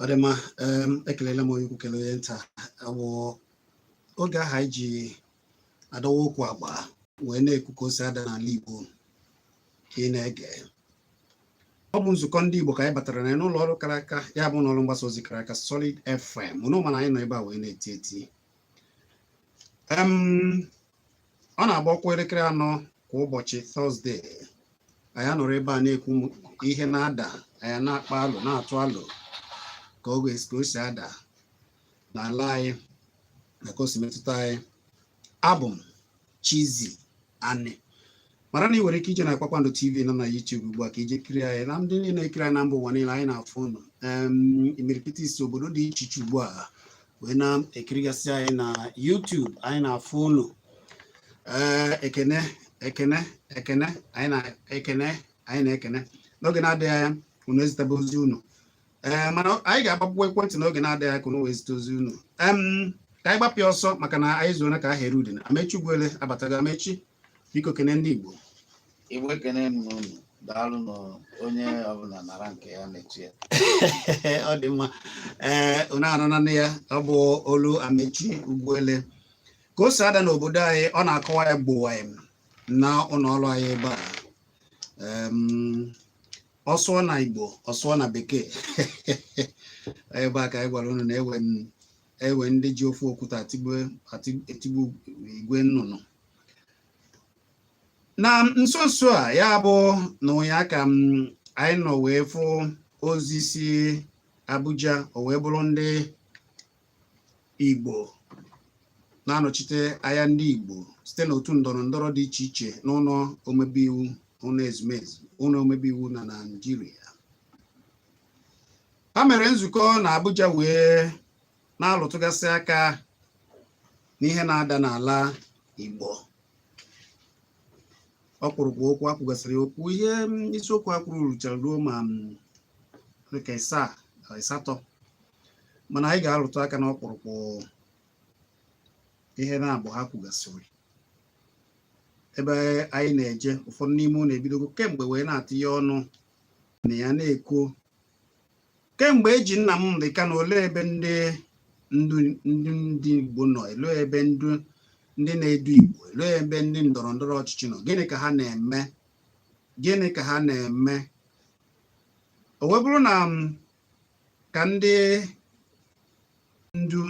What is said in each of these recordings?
ọ dị mma em, ekelela m onye ukwu kelee onye nta ọ bụ oge ahụ anyị ji adọwa okwu agba wee na-ekwu ka o si ada n'ala Igbo ka ị na-ege ọ bụ nzukọ ndị Igbo ka anyị batara na ya n'ụlọ ọrụ kara aka ya bụ n'ọrụ mgbasa ozi kara aka Solid FM ụnụ ma na anyị nọ ebe a wee na-eti eti Em, ọ na-abụ ọ kụọ elekere anọ kwa ụbọchị tọzdee anyị nọrọ ebe a na-ekwu ihe na-ada anyị na-akpa alo na-atụ alo ka o ka o si ada n'ala anyị na ka o si metụta anyị abụ m Chizzy Ani mara na ị nwere ike ije na Kpakpando TV nọ na YouTube ugbu a ka i je kiri anyị na ndị niile na-ekiri anyị na mba ụwa niile anyị na-afụ ụnụ imirikiti si obodo dị iche iche ugbu a wee na-ekirigasị anyị na YouTube anyị na-afụ ụnụ ee ekene ekene ekene anyị na-ekene anyị na-ekene n'oge na-adịghị anya unu ezitebe ozi unu ee mana anyị ga-agbapụ ekwentị n'oge na-adịghị anya ka unu wee zite ozi unu ka anyị gbapịa ọsọ maka na anyị zuona ka a ha erie udene Amechi Ugwuele abatago Amechi biko kene ndị Igbo Igbo ekene m ụnụ daalụ nụ onye ọbụla nara nke ya na-echi ya ọ dị mma ee unu anụnanụ ya ọ bụ olu Amechi Ugwuele ka o si ada n'obodo anyị ọ na-akọwa ya gbowa ya na ụlọ ọrụ anyị ebe a ọ sụọ na Igbo ọ sụọ na Bekee ebe a ka anyị gwara unu na e nwere ndị ji ofu okwute etigbu igwe nnụnụ na nso nso a ya bụ na ụnyaa ka anyị nọ wee fụ ozi si Abuja o wee bụrụ ndị Igbo na-anọchite anya ndị Igbo site n'otu ndọrọ ndọrọ dị iche iche n'ụlọ omebe iwu ụlọ ezumezu ụlọ omebe iwu na Naịjirịa ha mere nzukọ na Abuja wee na-alụtụgasị aka n'ihe na-ada n'ala Igbo ọkpụrụkpụ okwu a kwugasịrị okwu ihe isiokwu a kwuru ruchara ruo ma dịka ịsaa ịsatọ mana anyị ga-alụtụ aka na ọkpụrụkpụ ihe naabọ ha kwugasịrị ebe anyị na-eje ụfọdụ n'ime ụnụ ebidogo kemgbe wee na-atinye ọnụ na ya na-ekwu kemgbe eji Nnamdi Kanu olee ebe ndị ndu ndị ndị Igbo nọ elee ebe ndu ndị na-edu Igbo elee ebe ndị ndọrọ ndọrọ ọchịchị nọ gịnị ka ha na-eme gịnị ka ha na-eme o wee bụrụ na m ka ndị ndu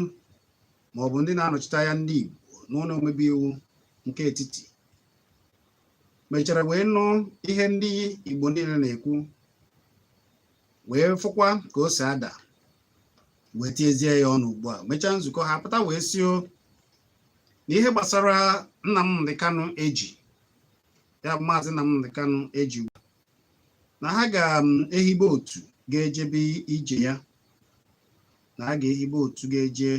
maọbụ ndị na-anọchite anya ndị Igbo n'ụlọ omebe iwu nke etiti mechara wee nụ ihe ndị Igbo niile na-ekwu wee fụkwa ka o si ada wee tiezie ya ọnụ ugbu a mechaa nzukọ ha pụta wee sị o na ihe gbasara Nnamdi Kanu eji ya bụ maazị Nnamdi Kanu eji na ha ga-ehibe um, otu ga-ejebe ije ya na ha ga-ehibe otu ga-eje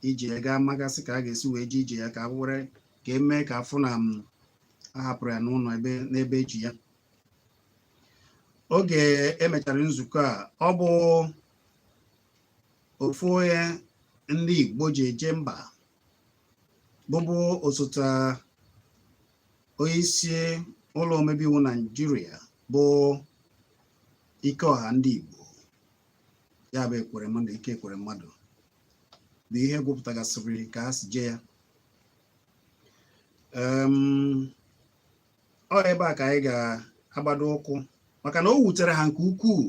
ije ya ga-amagasị ka a ga-esi wee je ije ya ka a were ka emee ka afụ na a hapụrụ ya n'ụlọ ebe n'ebe eji ya oge emechara nzukọ a ọ bụ ofu onye ndị Igbo ji eje mba bụbu osote onye isi ụlọ omebe iwu Naijiria bụ Ikeọha ndị Igbo ya bụ Ekweremadu Ike Ekweremadu bụ onye gụpụtagasịrị ka a si jee ya ọ ebe a ka anyị ga-agbado ụkwụ maka na o wutere ha nke ukwuu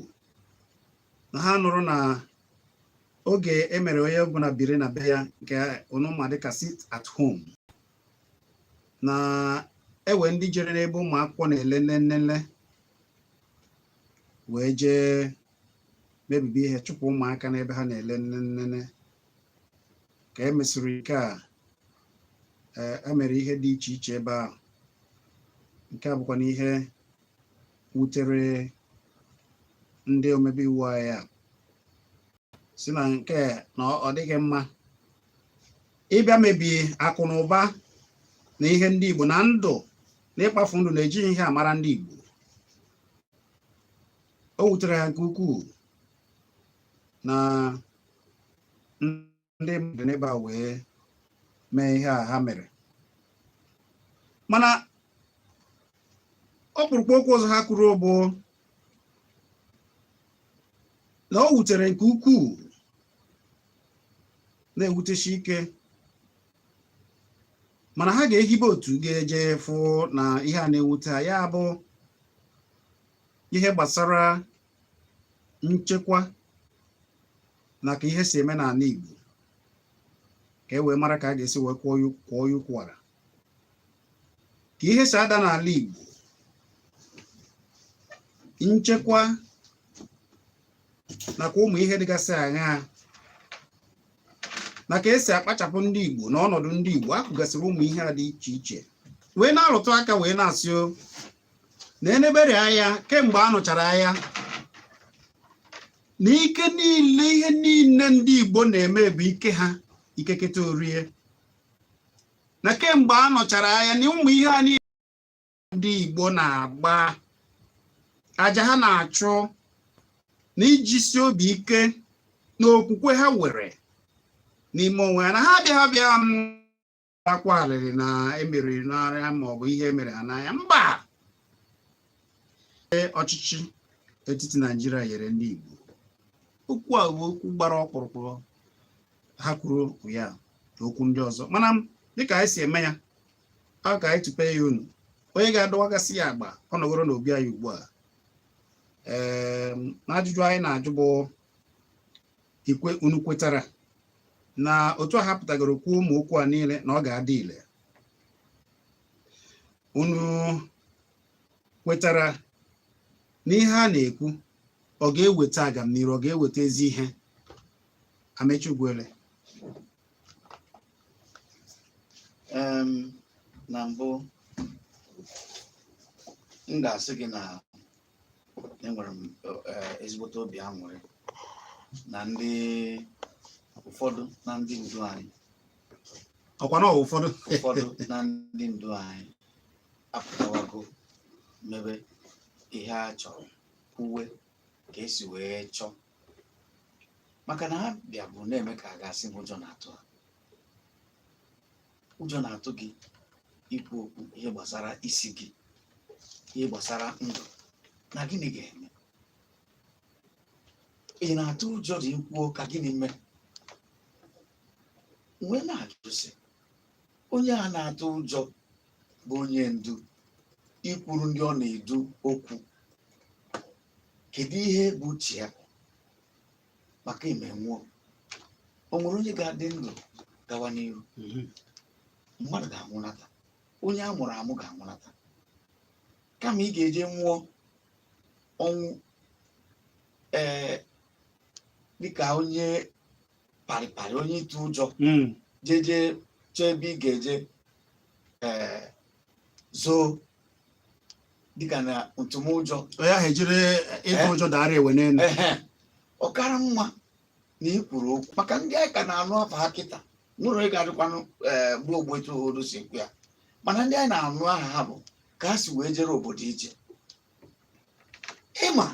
na ha nụrụ na oge emere onye ọbụla biri na be ya nke unu ma dịka sit at home na enwe ndị jere n'ebe ụmụ akwụkwọ na-ele nlele wee jee mebibi ihe chụpụ ụmụaka n'ebe ha na-ele nlele ka e mesịrị nke a emere e ihe dị iche iche ebe ahụ nke a bụkwanụ ihe wutere ndị omebe iwu anyị a sị na nke na ọ dịghị mma ịbịa mebie akụ na ụba na ihe ndị Igbo na ndụ na ịkpafu ndụ na ejighị ihe a mara ndị Igbo o wutere ha nke ukwuu na ndị mmadụ n'ebe a wee mee ihe a ha mere mana ọkpụrụkpụ okwu ọzọ ha kwuru bụ na o wutere nke ukwuu na-ewuteshi ike mana ha ga-ehibe otu ga-eje fụ na ihe a na-ewute ha ya bụ ihe gbasara nchekwa na ka ihe si eme n'ala Igbo ka e wee mara ka a ga-esi wee kwụọ ya ụkwara ka ihe si ada n'ala Igbo nchekwa nakwa ụmụ ihe dịgasị aṅaa na ka esi akpachapụ ndị Igbo na ọnọdụ ndị Igbo akụgasịrị ụmụ ihe a dị iche iche wee na-arụtụ aka wee na-asị na enebere anya kemgbe a nụchara agha na ike niile ihe niile ndị Igbo na-eme bụ ike ha ikeketa orie na kemgbe a nụchara agha na ụmụ ihe a niile ndị Igbo na-agba aja ha na-achụ na ijisi obi ike na okwukwe ha nwere n'ime onwe ya na ha abịaghị abịa akwa arịrị na emeriri n'agha ma ọ bụ ihe e mere ha n'agha mba ọchịchị etiti naijiria nyere ndị igbo okwu a bụ okwu gbara ọkpụrụkpụ ha kwuru ya na okwu ndị ọzọ mana dịka anyị si eme ya ọ ka anyị tupe ya unu onye ga-adọwagasị ya agba ọ nọgoro n'obi anyị ugbu a ee na ajụjụ anyị na-ajụ bụ ikwe unu kwetara na otu a ha pụtagoro kwuo ụmụ okwu a niile na ọ ga-adị ile unu kwetara na ihe a na-ekwu ọ ga-eweta agamniru ọ ga-eweta ezi ihe Amechi Ugwuele Em, na mbụ m ga-asị gị na enwere m eh, ezigbote obi aṅụrị na ndị ụfọdụ na ndị ndu anyị ọkwa na ọ wụ ụfọdụ ụfọdụ na ndị ndu anyị apụtawago mebe ihe a chọrọ kwuwe ka esi wee chọọ maka na ha bịa bụ na-eme ka a ga-asị na ụjọ na-atụ ha ụjọ na-atụ gị ikwu okwu ihe gbasara isi gị ihe gbasara ndụ na gịnị ga-eme ị na-atụ ụjọ dị i kwuo ka gịnị mee wee na-ajụ sị onye a na-atụ ụjọ bụ onye ndu ikwuru ndị ọ na-edu okwu kedu ihe bụ uche ya maka ime nwụọ o nwere onye ga-adị ndụ gawa n'iru Mhm. mmadụ ga-anwụnata onye a mụrụ amụ ga-anwụnata kama ị ga-eje nwụọ ọnwụ ee dịka onye parịparị onye ịtụ ụjọ Mm. jeje chee ebe ị ga-eje ee zoo dịka na ntụmụjọ onye ahụ ejiri ịtụ Eh? ụjọ dara enwe n'elu ehe ọ kara mma na ị kwuru okwu maka ndị anyị ka na-anụ afa ha kịta nwere ị ga-adịkwanụ ee gbuo ogbu etu obodo si ekwu ya mana ndị anyị na-anụ aha ha bụ ka ha si wee jere obodo ije ị ma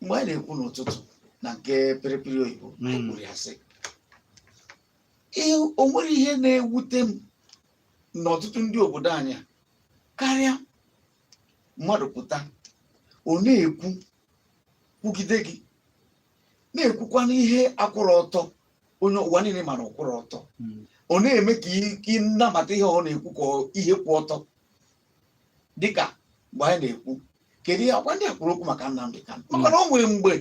mgbe anyị na-ekwu n'ụtụtụ na nke pịrịpịrị oyibo anyị Mm. kwuru ya sị "Ihe- o nwere ihe na-ewute m n'ọtụtụ ndị obodo anyị karịa mmadụ pụta ọ na-ekwu kwugide gị na-ekwukwanụ ihe akwụrọ ọtọ onye ụwa niile ma na ọ kwụrọ ọtọ hmm. ọ na-eme ka ị nabata ihe ọ na-ekwu ka ihe kwụ ọtọ dịka mgbe anyị na-ekwu kedu ihe akwa ndị a kwuru okwu maka Nnamdi Kanu hmm. maka na o nwere mgbe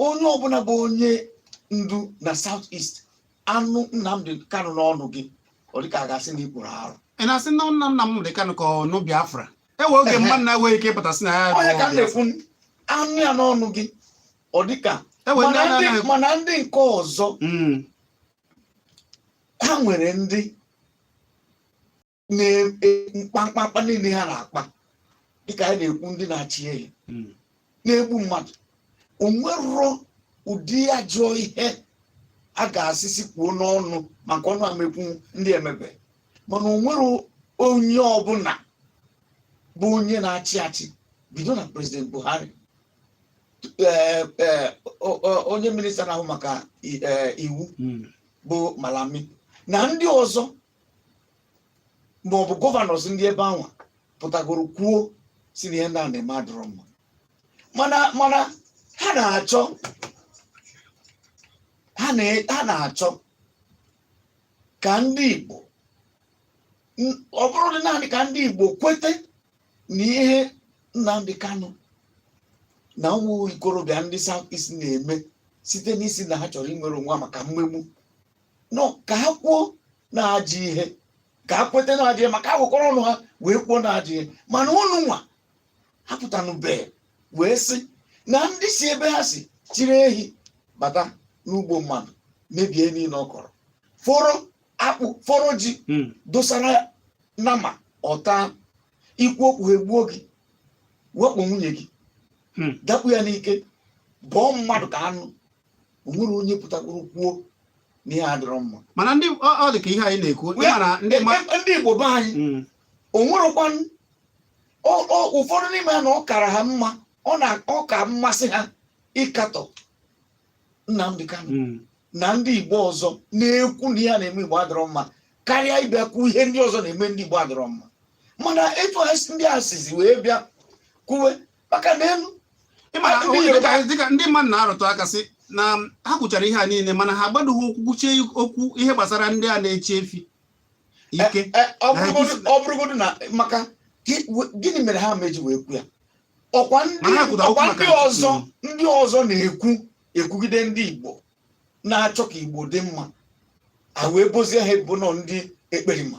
onye ọbụla bụ onye ndu na South East a nụ Nnamdi Kanu n'ọnụ gị ọ dịka a ga-asị na ị kpụrụ arụ ị na-asị na nna Nnamdi Kanu ka a nụ Biafra e nwe oge mmadụ na-enweghị ike ịpụta sị na ya onye ka m na-ekwu a nụ ya n'ọnụ gị ọ dịka Ewe ndị mana a ndị- na-anaghị- mana ndị nke ọzọ Mm, ha nwere ndị mkpamkpamkpa e, niile ha na-akpa dịka anyị na-ekwu ndị na-achị ehi hmm. na-egbu mmadụ onwerọ ụdị ajọ ihe a ga-asị sị kwuo n'ọnụ ma nke ọnụ ama ekwu ndị a emebe mana onwerọ onye ọbụla bụ onye na-achị achị bido na president Buhari eh, eh, onye minista na-ahụ maka eh, iwu hmm. bụ Malami na ndị ọzọ ma ọ bụ gọvanọs ndị ebe anwa pụtagoro kwuo sị na ihe ndị a na-eme adịrọ mma mana mana ha na-achọ ha na- ha na-achọ ka ndị Igbo n- ọ bụrọdị naanị ka ndị Igbo kwete na ihe Nnamdi Kanu na ụmụ ikorobịa ndị South East na-eme site n'ịsị na ha chọrọ inwere onwe ha maka mmegbu na ọ ka ha kwuo na ajọ ihe ka ha kweta na ajọ ihe ma ka ha kwekọrọ ọnụ ha wee kwuo na ajọ ihe mana ụnụ nwa apụtanụbe wee sị na ndị si ebe ha si chịrị ehi bata n'ugbo mmadụ mebie ihe niile ọ kọrọ foro akpụ foro ji hmm. dosara nama ọ taa ị kwuo okwu ha egbuo gị wakpo nwunye gị hmm. dakpu ya n'ike bọọ mmadụ ka anụ onwere onye pụtakwuru kwuo na ihe adịrọ mma mana ndị ọ dị ka ihe anyị na-ekwu e, e, e, ndị Igbo be anyị mm. onwerekwa ụfọdụ n'ime ha na ọ kara ha mma ọ na ọ ka mmasị ha ịkatọ Nnamdi Kanu mm. na ndị Igbo ọzọ na-ekwu na ihe na-eme Igbo adịrọ mma karịa ịbịa kwuo ihe ndị ọzọ na-eme ndị Igbo adịrọ mma mana etu ndị a sizi wee bịa kwuwe maka na elu dịka ndị mmadụ na-arụtụ aka sị na ha kwuchara ihe a niile mana ha agbadoghị ụkwụ kwuchie okwu ihe gbasara ndị a na-eche efi ike eh, eh, ọ bụrụgodu na maka gịnị mere ha meji wee kwu ya ọkwa ndị ọzọ ndị ọzọ na-ekwu ekwugide ndị Igbo na-achọ ka Igbo dị mma a wee bozie ha ebubo na ọ ndị ekperima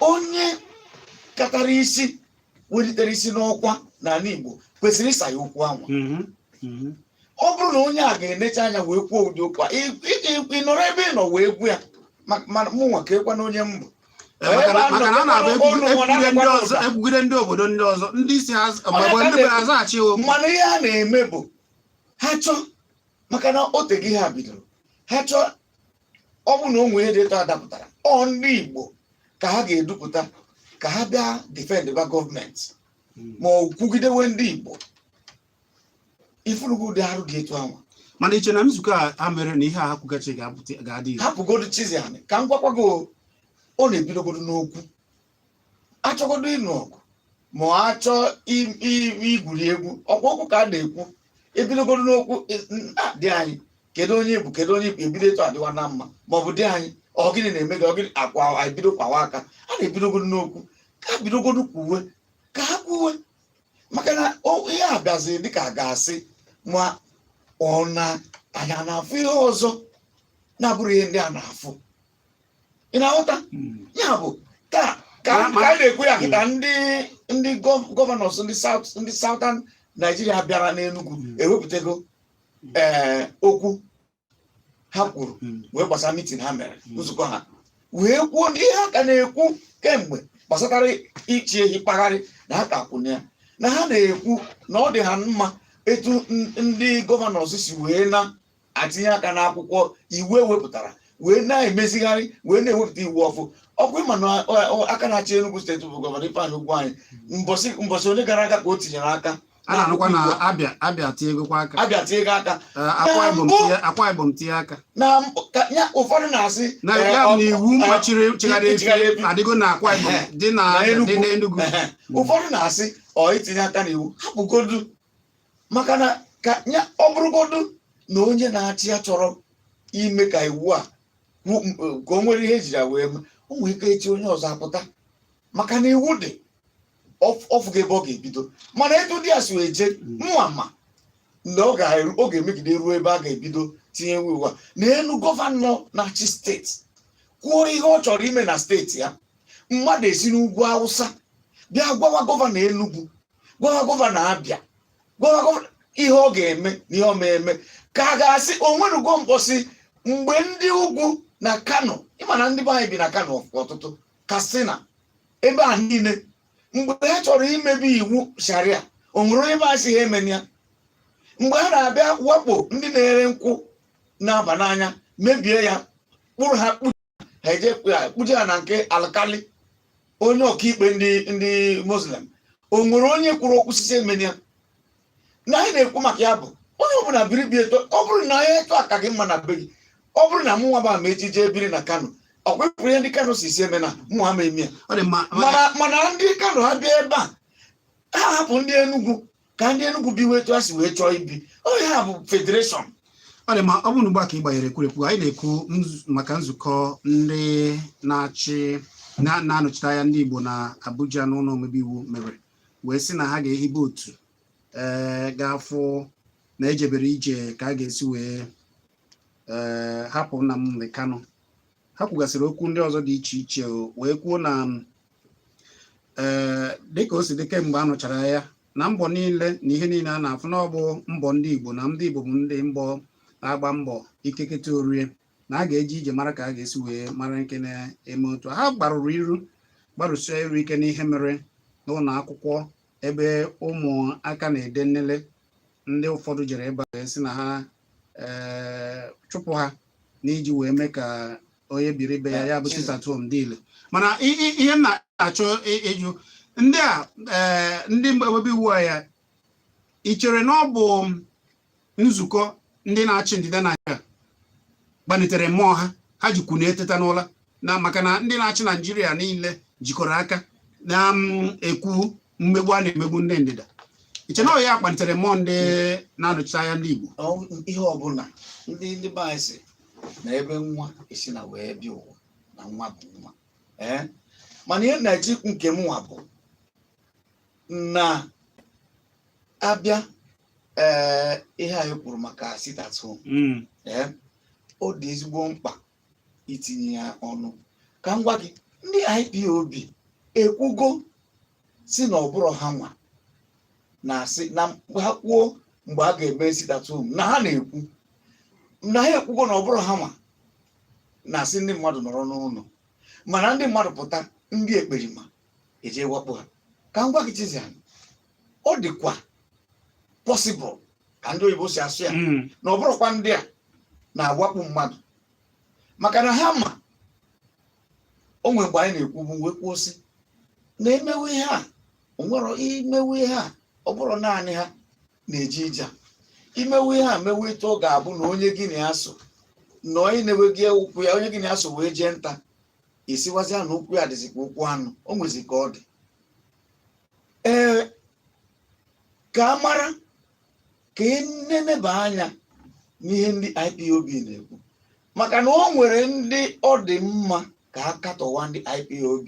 onye katara isi welitere isi n'ọkwa n'ala Igbo kwesịrị ịsa ya okwu anwa mhm, mhm. ọ bụrụ na onye a ga-enecha anya wee kwuo ụdị okwu a ị- ị- ị- ị nọrọ ebe ị nọ wee kwu ya ma- ma mụnwa ka ekwana onye mbụ Eh, maka na- maka na a na-abụ ekwugide ekwugide ndị ọzọ ekwugide ndị obodo ndị ọzọ ndị isi ha ma ọ bụ ndị bere azaghachi ya okwu mana ihe a na-eme bụ ha chọọ maka na o teghị ha bidoro ha chọọ ọ bụ na o nwere ihe dị etu a dapụtara ọ ndị Igbo ka ha ga-edupụta ka ha bịa defend ba gọọmenti hmm. ma ọ kwugidewe ndị Igbo ị fụrụgo ụdị arụ dị etu anwa mana i che na nzukọ a mere na ihe a ha kwugachi ga-adị hapụgodu Chizzy anyị ka m gwakwago ọ na-ebidogodo n'okwu achọgodo ịnụ ọgụ ma ọ achọọ i- i- igwuri egwu ọkwa okwu ka a na-ekwu ebidogodo n'okwu e- n- a, dị anyị kedu onye bụ kedu onye bụ ebido etu adịwa na mma ma ọ bụ dị anyị ọ gịnị na-eme gị ọ gịnị akwa anyị bido kwawa aka a na-ebidogodo n'okwu ka a bidogodo kwuwe ka ha kwuwe maka na o- ihe a bịazi dịka a ga-asị ma ọ na anyị a na-afụ ihe ọzọ na-abụrụ ihe ndị a na-afụ ị na-aghọta hmm. ya bụ ka ka a na-ekwu ya kịta hmm. ndị ndị gọvanọs ndị South ndị Southern Nigeria bịara n'enugwu hmm. ewepụtago ee eh, okwu ha kwuru wee gbasara mitin ha mere nzukọ ha wee kwuo ihe ha ka na-ekwu kemgbe gbasatara ịchị ehi kpagharị na ha ka kwụ na ya na ha na-ekwu na ọ dị ha mma etu ndị gọvanọs si wee na atinye aka n'akwụkwọ iwu ewepụtara wee na-emezigharị wee na-ewepụta iwu ọfụ ọkwa ị ma na ọ- ọ- aka na-achị Enugu steeti bụ gọvanọ Ifeanyi Ugwuanyi mbọsị mbọsị one gara aga ka o tinyere aka a na-anụkwa na Abia Abia tinyegokwa aka Abia tinyego aka Eh, akwa ibom mbụ- tinye- akwa ibom tinye aka na mkp- ka- ya ụfọdụ na-asị na eh, ya ọ- bụ na iwu eh, machiri nchịgharị nchịgharị efi efi. adịgo na akwa ibom Ehe. dị na Na Enugu. dị n'Enugu Ehe. ụfọdụ na-asị ọ itinye aka n'iwu hapụgodu maka na ka ya ọ bụrụgodu na onye na-achị ya chọrọ ime ka iwu a ka o nwere ihe ejiri wee mee o nwee ike echi onye ọzọ apụta maka na iwu dị ọ fụga ebe ọ ga-ebido mana etu ndị a si wee jee mma ma na ọ ga-emegide ruo ebe a ga-ebido tinye iwu a na elu gọvanọ na-achị steeti kwuo ihe ọ chọrọ ime na steeti ya mmadụ esi n'ugwu awụsa bịa gwawa gọvanọ Enugu gwawa gọvanọ Abịa gwawa gọvanọ ihe ọ ga-eme na ihe ọ ma eme ka a ga-asị o nwerugo mkpọsị mgbe ndị ugwu na kano ị ma na ndị be anyị bi na kano ọtụtụ katsina ebe a niile mgbe ha chọrọ imebe iwu sharia o nwere onye bịa sị ha emena ya mgbe ha na-abịa wakpo ndị na-ere nkwụ na-aba n'anya mebie ya kpụrụ ha kpụ ha eje kpụje ha na nke alkali onye ọkaikpe ndị ndị muslim o nwere onye kwuru okwu sị sị emene ya na anyị na-ekwu maka ya bụ onye ọbụla biri be ya etu ọ bụrụ na ya etu a ka gị mma na be gị ọ bụrụ na mụnwa bụ Amaechi jee biri na kano ọ kwa ị fụrụ ihe ndị kano sị sị emena mụ ama eme ya mana ndị kano ha bịa ebe a ha hapụ ndị enugwu ka ndị Enugu biwe etu ha si wee chọọ ibi ọ ya bụ federation ọ dị ma ọ bụrụ na ugbu a ka ị gbanyere ekwurekwu anyị na-ekwu nzu- maka nzukọ ndị na-achị na- na-anọchite anya ndị Igbo na Abuja n'ụlọ omebe iwu mere wee sị na ha ga-ehibe otu ee ga-afụ na ejebere ije ka a ga-esi wee ee hapụ Nnamdi Kanu ha kwugasịrị okwu ndị ọzọ dị iche iche o, wee kwuo na ee dịka o si dị kemgbe a nụchara aya na mbọ niile na ihe niile a na-afụ na ọ bụ mbọ ndị Igbo na ndị Igbo bụ ndị mbọ na-agba mbọ ike keta o rie na a ga-eji ije mara ka a ga-esi wee mara nke na-eme otu ha gbarụrụ iru gbarụsie iru ike n'ihe mere n'ụlọ akwụkwọ ebe ụmụaka na-ede nnele ndị ụfọdụ jere ebe a sị na ha eh, chụpụ ha n'iji wee mee ka onye biri be ya ya bụ sit at home dị ile mana i- i- ihe m na-achọ ị- ịjụ ndị a eh, ndị omebe iwu a ya ị chere na ọ bụ nzukọ ndị na-achị ndịda Naịjirịa gbanitere mmụọ ha ha jikwu na-eteta n'ụla na maka na ndị na-achị Naịjirịa niile jikọrọ aka na-ekwu mmegbu a na-emegbu ndị ndịda i che na ọ ya kpalitere mmụọ ndị na-anọchite anya ndị Igbo Ọ ihe ọbụla ndị ndị be anyị sị na ebe nwa esi na wee bịa ụwa na nwa bụ nwa ee mana ihe na-eji nke m nwa bụ na abịa ee ihe anyị kwuru maka sit at home Mm, ee ọ dị ezigbo mkpa itinye ya ọnụ ka m gwa gị ndị IPOB ekwugo sị na ọ bụrọ ha nwa na-asị na mgbe ha kwuo mgbe a ga-eme sit at home na ha na-ekwu na ha ekwugo na ọ bụrọ ha nwa na-asị ndị mmadụ nọrọ n'ụlọ mana ndị mmadụ pụta ndị ekperima eje wakpo ha ka m gwa gị Chizzy anyị ọ dịkwa possible ka ndị oyibo si asụ ya hmm. na ọ bụrụkwa ndị a na-awakpo mmadụ maka na ha ma o nwere mgbe anyị na-ekwubu wee kwuo sị na e mewe ihe a o nwere i mewe ihe a ọ bụrụ naanị ha na-eji ije i mewe ihe a mewe etu ọ ga-abụ na onye gị na ya so na onye na-ewe gị ụkwụ ya onye gị na ya so wee jee nta ị sịwazia na ụkwụ ya dịzikwa ụkwụ anụ o nwezi ka ọ dị ee ka a mara ka e neneba anya n'ihe ndị IPOB na-ekwu maka na o nwere ndị ọ dị mma ka a katọwa ndị IPOB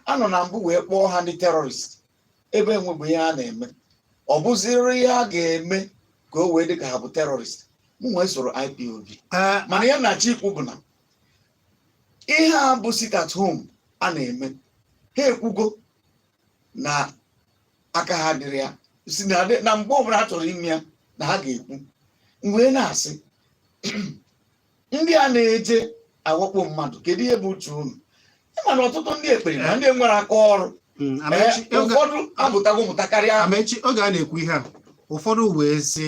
a nọ na mbụ wee kpọọ ha ndị terrorist ebe enwebụ ihe a na-eme ọ bụziri ihe a ga-eme ka o wee dị ka ha bụ terrorist mụ nwa esorọ IPOB mana ihe m na-achọ ikwu bụ na ihe a bụ sit at home a na-eme ha ekwugo na aka ha adịrọ ya sị na adị- na mgbe ọbụla ha chọrọ ime ya na ha ga-ekwu m wee na-asị ndị a na-eje awakpo mmadụ kedu ihe bụ uche unu ị ma na ọtụtụ ndị ekpere na ndị nwere aka ọrụ Mm, ee, Amaechi, oge- ụfọdụ amụtago mụta karịa Amaechi oge a na-ekwu ihe a ụfọdụ wee sị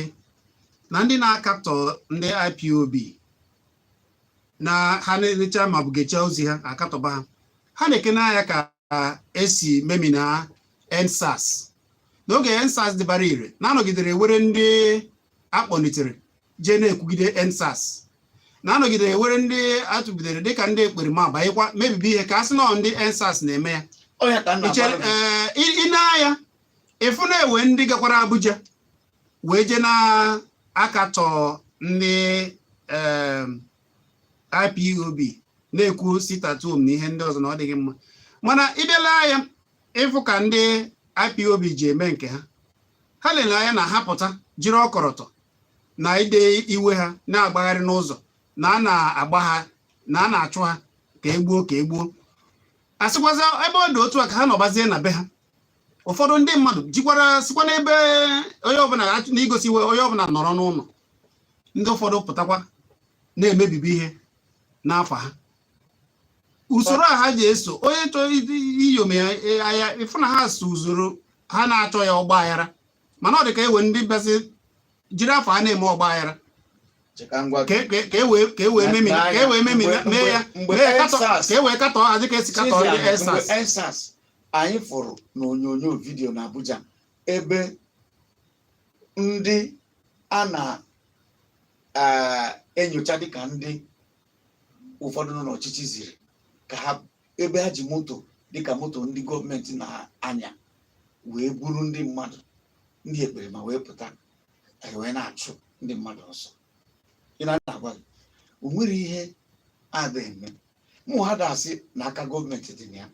na ndị na-akatọ ndị IPOB na ha nenechaa ma ọ bụ gechaa ozi ha akatọba ha ha nekene anya ka e si memina EndSARS n'oge EndSARS dịbara ire na a nọgidere e nwere ndị a kpọlitere jee na-ekwugide EndSARS na a nọgidere e nwere ndị a tụbidere dịka ndị ekperima banyekwa mebibi ihe ka a sị na ọ ndị EndSARS na-eme ya Ọ ya ka m na-agwa gị. ee i nee anya ị fụ na e nwe ndị gakwara Abuja wee jee na-akatọ ndị IPOB na-ekwu sit at home na ihe ndị ọzọ na ọ dịghị mma mana ị bịa lee anya ị fụ ka ndị IPOB ji eme nke ha ha lere anya na ha pụta jiri ọkọrọtọ na ide iwe ha na-agbagharị n'ụzọ na a na-agba ha na a na-achụ ha ka e gbuo ka e gbuo ha sịkwazia ebe ọ dị otu a ka ha nọbazie na be ha ụfọdụ ndị mmadụ jikwara sikwa n'ebe onye ọbụla na igosi iwe onye ọbụla nọrọ n'ụlọ ndị ụfọdụ pụtakwa na-emebibi ihe n'afa ha usoro a ha ji eso onye chọrọ iyom ya e, ịfụ na ha so usoro ha na-achọghị ọgba aghara mana ọ dị ka e nwere ndị bịazi jiri afa ha na-eme ọgba aghara ka e wee e e mee ya ka e wee katọọ hazi ka esi katọọ ndị EndSARS anyị fụrụ na onyonyo vidiyo na Abuja ebe ndị a na-enyocha eh, dịka ndị ụfọdụ nọ n'ọchịchị ziri ka ha ebe ha ji moto dịka moto ndị gọọmenti na-anya wee buru ndị mmadụ ndị ekperima wee pụta wee na-achụ ndị mmadụ ọsọ ị na-agwa gị o nwere ihe a ga-eme mụwa ada asị na aka gọọmenti dị na ya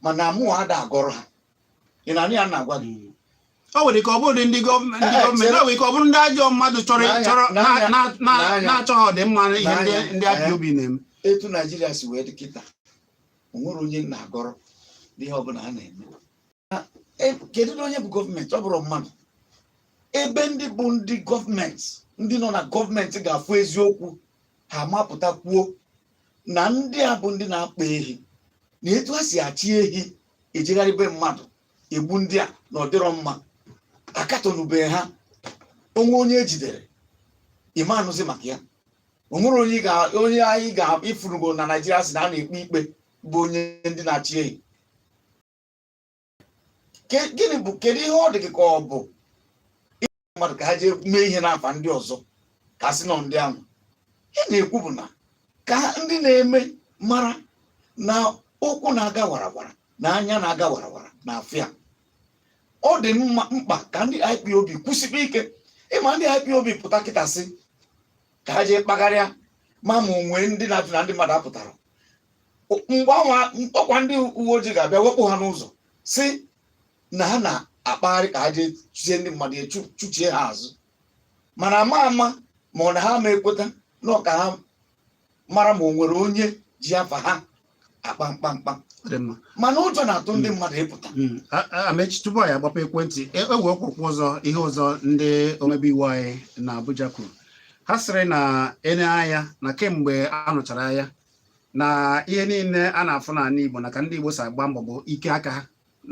mana mụwa ada agọrọ ha ị na-anụ ihe m na-agwa gị ọ nwere ike ọ bụrụ ndị gọọmenti ndị gọọmenti ọ nwere ike ọ bụrụ ndị ajọ mmadụ chọrọ na-achọghị ọdịmma ihe ndị IPOB na-eme etu naijiria si wee dị kịta o nwerọ onye m na-agọrọ n'ihe ọbụla a na-eme e, kedu na onye bụ gọọmenti ọ bụrọ mmadụ ebe ndị bụ ndị gọọmenti ndị nọ na gọọmenti ga-afụ eziokwu ha ma pụta kwuo na ndị a bụ ndị na-akpa ehi na etu ha si achị ehi ejegharị be mmadụ egbu ndị a na ọdịrọ mma akatọnubeghị ha onwe onye ejidere ị ma anụzi maka ya onwere onye onye anyị ka ị fụrụgo na naijiria si na a na-ekpe ikpe bụ onye ndị na-achị ehi gịnị bụ kedu ihe ọ dị gị ka ọ bụ mmadụ ka ha jee mee ihe n'afa ndị ọzọ ka a sị na ọ ndị ahụ ihe m na-ekwu bụ na ka ndị na-eme mara na ụkwụ na-aga warawara na anya na-aga warawara na-afụ ya ọ dị mkpa ka ndị IPOB kwụsịkwa ike ịma ndị IPOB pụta kịta sị ka ha jee kpagharịa ma ma onwe ndị na-ajụ na ndị mmadụ apụtara mgbe anwa ọkwa ndị uwe ojii ga-abịa wepụ ha n'ụzọ si na ha na-akpagharị ka ha jee chụzie ndị mmadụ ya chụ- chụchie ha azụ mana ama ama ma ọ na ha ma ekweta na ọ ka ha mara ma o nwere onye ji afa ha akpa mkpamkpa Ọ dị mma. mana ụjọ na-atụ ndị mmadụ ịpụta Mm, a- a- Amaechi tupu anyị agbape ekwentị e e nwekwurukwa ihe ọzọ ndị omebe iwu anyị na abuja kwuru ha sịrị na ene anya na kemgbe a nụchara agha na ihe niile a na-afụ n'ala Igbo na ka ndị Igbo si agba mbọ bụ ike aka ha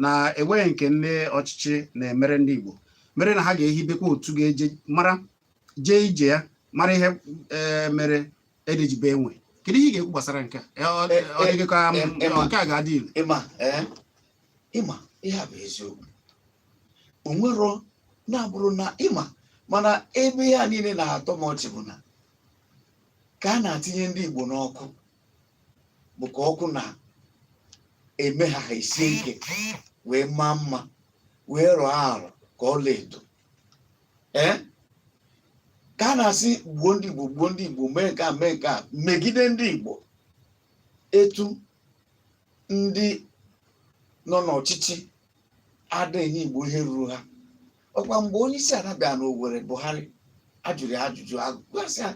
na enweghị nke ndị ọchịchị na-emere ndị Igbo mere na ha ga-ehibekwa otu ga-eje mara jee ije ya mara ihe e, mere ede ji bee nwii kedu ihe ị ga-ekwu gbasara nke a e, e, ọ dị gị ka nke a ga-adị ile ị ma ihe bụ eziokwu o nwero na-abụrụ na ị ma mana ebe ihe a niile na-atọ m ọchị bụ na ka a na-atinye ndị Igbo n'ọkụ bụ ka ọkụ na-eme ha ha esie ike wee maa mma wee rọọ arọ ka ọla edo ee ka a na-asị gbuo ndị Igbo gbuo ndị Igbo mee nke a mee nke a megide ndị Igbo etu ndị nọ n'ọchịchị ada enye Igbo ihe ruru ha ọ kwa mgbe onye isi ala bịara n'Owerri Buhari a jụrụ ya ajụjụ agụgasị ya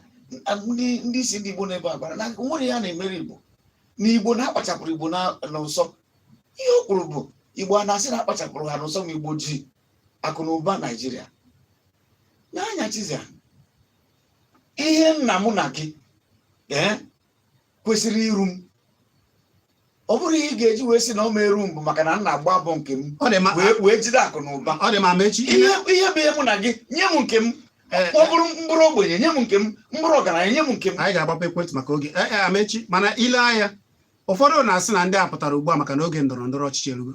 ndị ndị isi ndị Igbo na-ebe akwa na o nwerọ ihe a na-emere Igbo na Igbo na a kpachapụrụ Igbo na- n'ụsọ ihe o kwuru bụ Igbo a na-asị na a kpachapụrụ ha n'ụsọ ma Igbo ji akụ na ụba Naijiria nee anya Chizzy ihe nna mụ na gị ee kwesịrị iru m ọ bụrụ ihe ị ga-eji wee sị na ọ ma-eru m bụ maka na m na-agba mbọ nke m ọ dị mma wee wee jide akụ na ụba ọ dị mma Amechi ihe ihe bụ ihe mụ na gị nye m nke m Eh, ọ bụrụ m bụrụ ogbenye nye m nke m m bụrụ ọgaranya nye m nke m anyị ga-agbape ekwentị maka oge ee Amechi mana i lee anya ụfọdụ na-asị na ndị a pụtara ugbu a maka na oge ndọrọ ndọrọ ọchịchị erugo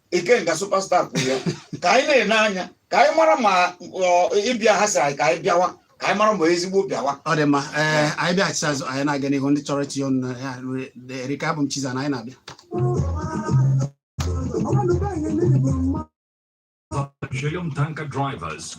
Ikenga Superstar kwuru ya ka anyị na-ene anya ka anyị mara ma ịbịa ha sị anyị ka anyị bịawa ka anyị mara ma ezigbo bịawa ọ dị mma ee anyị bịaghachite azụ anyị na-aga n'ihu ndị chọrọ itinye ọnụ na ya erika abụ m Chizzy na anyị na-abịa Petroleum tanker drivers.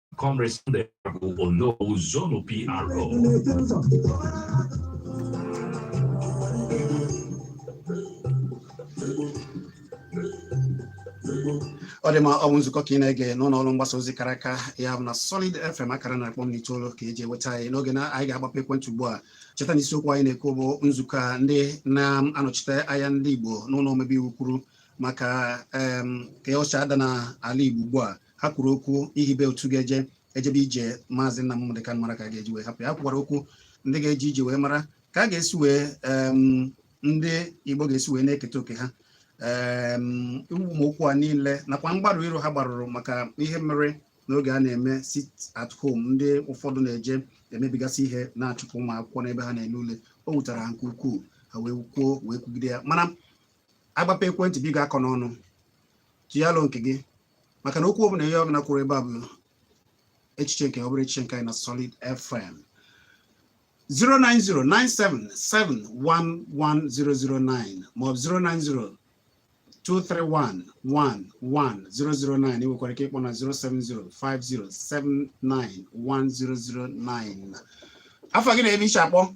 Comrade Sunday Ono Zono PRO. ọ dị mma ọ bụ nzukọ ka ị na-ege n'ụlọ ọrụ mgbasa ozi kara aka ya bụ na Solid FM akara narị kpọm n'itoolu ka e ji eweta anyị n'oge na anyị ga-agbape ekwentị ugbu a cheta na isiokwu anyị na-ekwu bụ nzukọ a ndị na-anọchite anya ndị Igbo n'ụlọ omebe iwu kwuru maka ka o si ada na ala Igbo ugbu a ha kwuru okwu ihibe otu ga-eje ejebe ije maazị nna Nnamdi Kanu mara ka a ga-eji wee hapụ ya kwukwara okwu ndị ga-eje ije wee mara ka a ga-esi wee ndị Igbo ga-esi wee na-eketa oke ha ụmụ okwu a niile nakwa mgbarụ iru ha gbarụrụ maka ihe mere n'oge a na-eme sit at home ndị ụfọdụ na-eje emebigasị ihe na-achụpụ ụmụ akwụkwọ n'ebe ha na-ele ule o wutara ha nke ukwuu ha wee kwuo wee kwugide ya mana a gbapee ekwentị biko akọ n'ọnụ tụnye alo nke gị maka na okwu ọbụla onye ọbụla kwuru ebe a bụ echiche nke ọ bụrọ echiche nke anyị na Solid FM 09097711009 maọbụ 09023111009 i nwekwara ike ịkpọ na 07050791009 afa gị na ebe i shi akpọ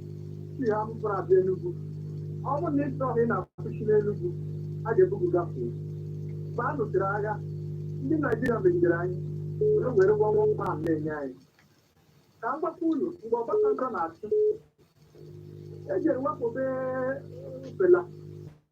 si Anambra abịa Enugu ọ bụrụ na ị chọọ na ị na-akwụshị n'Enugu a ga-ebu gị gafee mgbe a nụsịrị agha ndị Naijiria megidere anyị were were gwa nwa nwa ahụ na-enye anyị ka m gwakwa unu mgbe Obasanjo na-achị e jere wakpobe Fela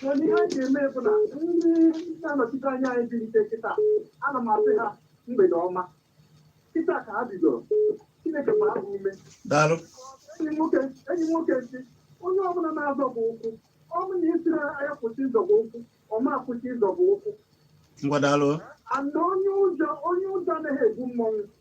Mana ihe anyị ga-eme bụ na ndị na-anọchite anya anyị bilite kịta ana m asị ha mgbede ọma kịta ka ha bidoro Chineke gbaa ha ume daalụ enyi m nwoke sị onye ọbụla na-azọba ụkwụ ọ bụ na ị sịrị ya kwụsị ịzọba ụkwụ ọ ma akwụsị ịzọba ụkwụ ngwa daalụ ana onye ụjọ onye ụjọ anaghị ebu mmọnwụ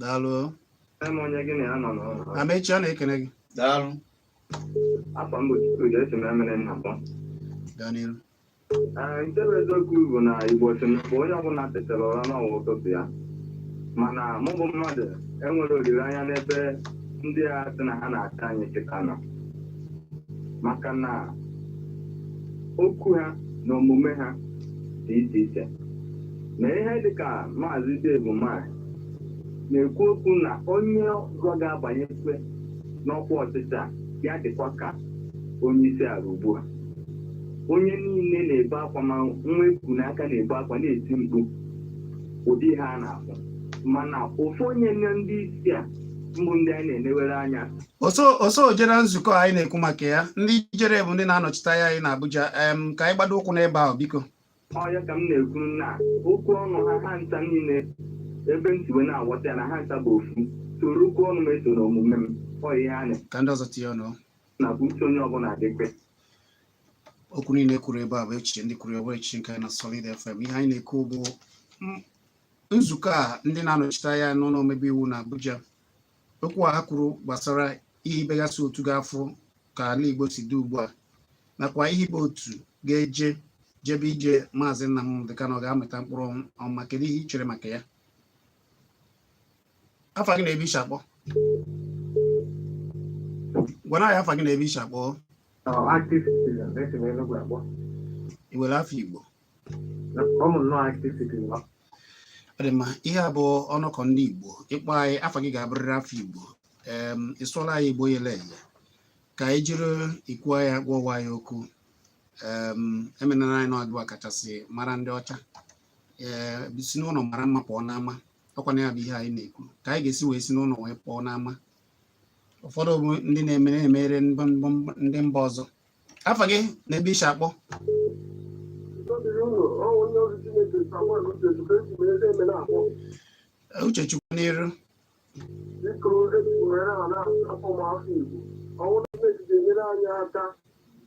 daalụ Amaechi a na-ekele gị daalụ afa m bụ Chigozie esi m Emene na-akpọ gaa n'iru nke bụ eziokwu bụ na Igbo sị mgbe onye ọbụla tetara ụra na ọ wụ ụtụtụ ya mana mụ bụ mmadụ enwerọ olileanya n'ebe ndị a sị na ha na-achị anyị kịta nọ maka na okwu ha na omume ha dị iche iche na ihe dị ka maazị Dave Umahi na-ekwu okwu na onye ọzọ ga-abanyekwe n'ọkwa ọchịchị a ya dịkwa ka onye isi ala ugbu a onye niile na-ebe akwa ma nwa e ku n'aka na-ebe akwa na-eti mkpu ụdị ihe a na-afụ mana ofu onye n'ime ndị isi a mbụ ndị anyị na-enewere anya o so jere nzukọ anyị na-ekwu maka ya ndị jere bụ ndị na-anọchite anya anyị na Abuja em ka anyị gbado ụkwụ n'ebe ahụ biko ọya ka m na-ekwu na okwu ọnụ ha ncha niile ebe m si wee na-aghọta ya na ha ncha bụ ofu soro okwu ọnụ m esona omume m ọya ihe a ka ndị ọzọ tinye ọnụ na bụ uche onye ọbụla dị mkpa okwu niile e kwuru ebe a bụ echiche ndị kwuru ọ bụrọ echiche nke anyị na Solid FM ihe anyị na-ekwu bụ nzukọ a ndị na-anọchite anya n'ụlọ omebe iwu na Abuja okwu a ha kwuru gbasara ihibegasị otu ga-afụ ka ala Igbo si dị ugbu a nakwa ihibe otu ga-eje jebe ije maazị Nnamdi Kanu ọ ga-amịta mkpụrụ ọma kedu ihe i chere maka ya afa gị na ebe i shi akpọ gwana anyị afa gị na ebe i shi akpọ i nwere afa Igbo ọ dị mma ihe a bụ ọnọkọ ndị Igbo ị kpọọ anyị afa gị ga-abụrịrị afa Igbo em ị sụọla anyị Igbo yele eye ka anyị jiri ikwu ya gwawa ya okwu em emenara anyị n'ọdụwa kachasị mara ndị ọcha ee si n'ụlọ mara mma pụọ n'ama ọkwa na ya bụ ihe anyị na-ekwu ka anyị ga-esi wee si n'ụlọ wee pụọ n'ama ụfọdụ bụ ndị na-eme na-emere ndị mba- ndị mba ọzọ afa gị na ebe i shi akpọ Ndịrị unu, ọ bụ onye ozi Chineke Samuel Uchechukwu esi m eze eme na-akpọ. Uchechukwu n'iru biko eji were ha na-asụ ụmụafọ Igbo ọ bụrụ na eji ga-enyere anyị aka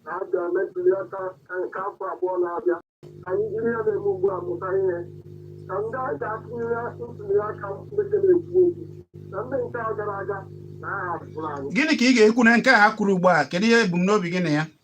na a bịa na ntuli aka nke afọ abụọ na-abịa ka anyị jiri ihe a na-eme ugbu a mụta ihe ka ndị a ga-atụnyere ntuli aka ndị ga na-ekwu okwu na ndị nke a gara aga na a hapụrụ anyị gịnị ka ị ga-ekwu na nke a ha kwuru ugbu a kedu ihe ebumnobi gị na ya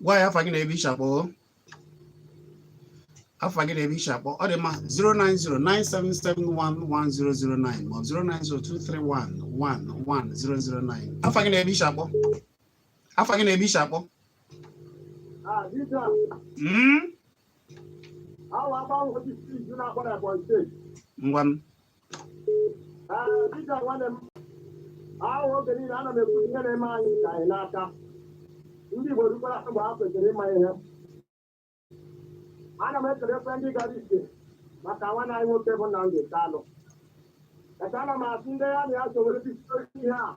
gwa ya afa gị na ebe i shi akpọ afa gị na ebe i shi akpọ ọ dị mma 09097711009 ma ọ bụ 09023111009 afa gị na ebe i shi akpọ afa gị na ebe i shi akpọ Mm? ngwanụ dịka nwanne m ahụ oge niile ana m ekwu ihe na-eme anyị ka anyị n'aka ndị Igbo rukwara mgbe ha kwesịrị ịma ihe ana m ekelekwa ndị gara ije maka nwanne anyị nwoke bụ Nnamdi Kanu ana m asị ndị ya na ya so were ihe a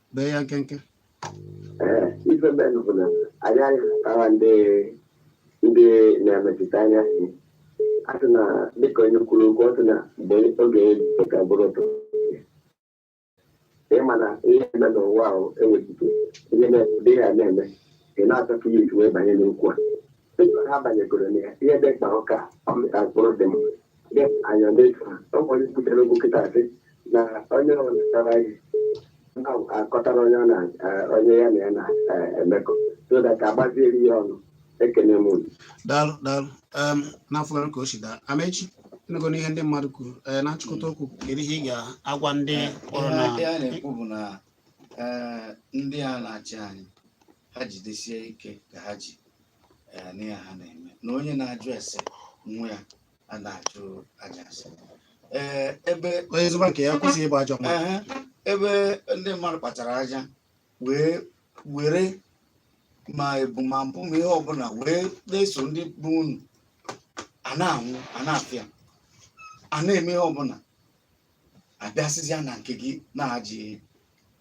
bee ya nkenke Ee, ife mmenụ bụ na anyị ahụtara ndị ndị na-emetụta anya si a sị na dịka onye kwuru okwu ọ sị na mgbe oge dịka bụrụ ụtọ ị ma na ihe eme n'ụwa ahụ enwechigo ihe na-ede ya na-eme ị na-achọpụ ya iji wee banye n'okwu a dịka ha banyegoro na ya ihe dị mkpa bụ ka ọ mịta mkpụrụ dị mma Yes, I am late. Somebody put a logo kịta a sị na onye ọ na-akọrọ anyị akọtara onye ọ na onye ya na ya na-emekọ so that agbaziere ya ọnụ ekene m unu. daalụ daalụ Em, n'afọ ka o si daa Amechi ị nụgonụ ihe ndị mmadụ kwuru ee na nchịkọta okwu kedu ihe ị ga-agwa ndị kpọrọ na ihe a na-ekwu bụ na ee, ndị a na-achị anyị ha jidesie ike ka ha ji ee n'ihe ha na-eme na onye na-ajụ ese nwa ya a na-ajụ aja ase ee ebe onye zụba nke ya kwụsị ịbụ ajọ mmadụ ehe, ebe ndị mmadụ kpachara aja wee were ma ebu ma mpụ ma ihe ọbụla wee na-eso ndị bụ unu a na-anwụ a na-afịa a na-eme ihe ọbụla abịasịzịa na nke gị na-eji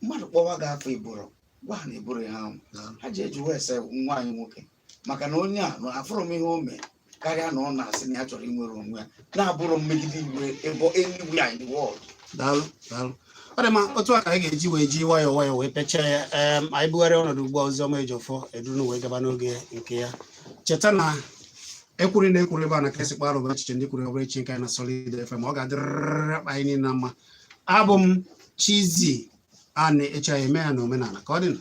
mmadụ kpọwa gị afọ iburu gwa ha na eburu ihe ahụ ha ji eji wee sị nwaanyị nwoke maka na onye a na afụrụ m ihe o mee karịa na ọ na-asị na ya chọrọ inwere onwe ya na-abụrụ mmegide iwe ebe eluigwe anyị the world daalụ daalụ ọ dị mma otu a ka anyị ga-eji wee ji nwayọọ nwayọọ wee pechaa ya em anyị bugharịa ọnọdụ ugbu a Oziọma Ejiọfọ eduru wee gaba n'oge nke ya cheta na ekwuru na ekwuru ebe a na ka esi kpara bụ echiche ndị kwuru ọ bụrọ echiche nke anyị na Solid FM ọ ga-adịrịrị akpa anyị niile na mma abụ m Chizzy Ani echi anyị eme ya na omenala ka ọ dị nụ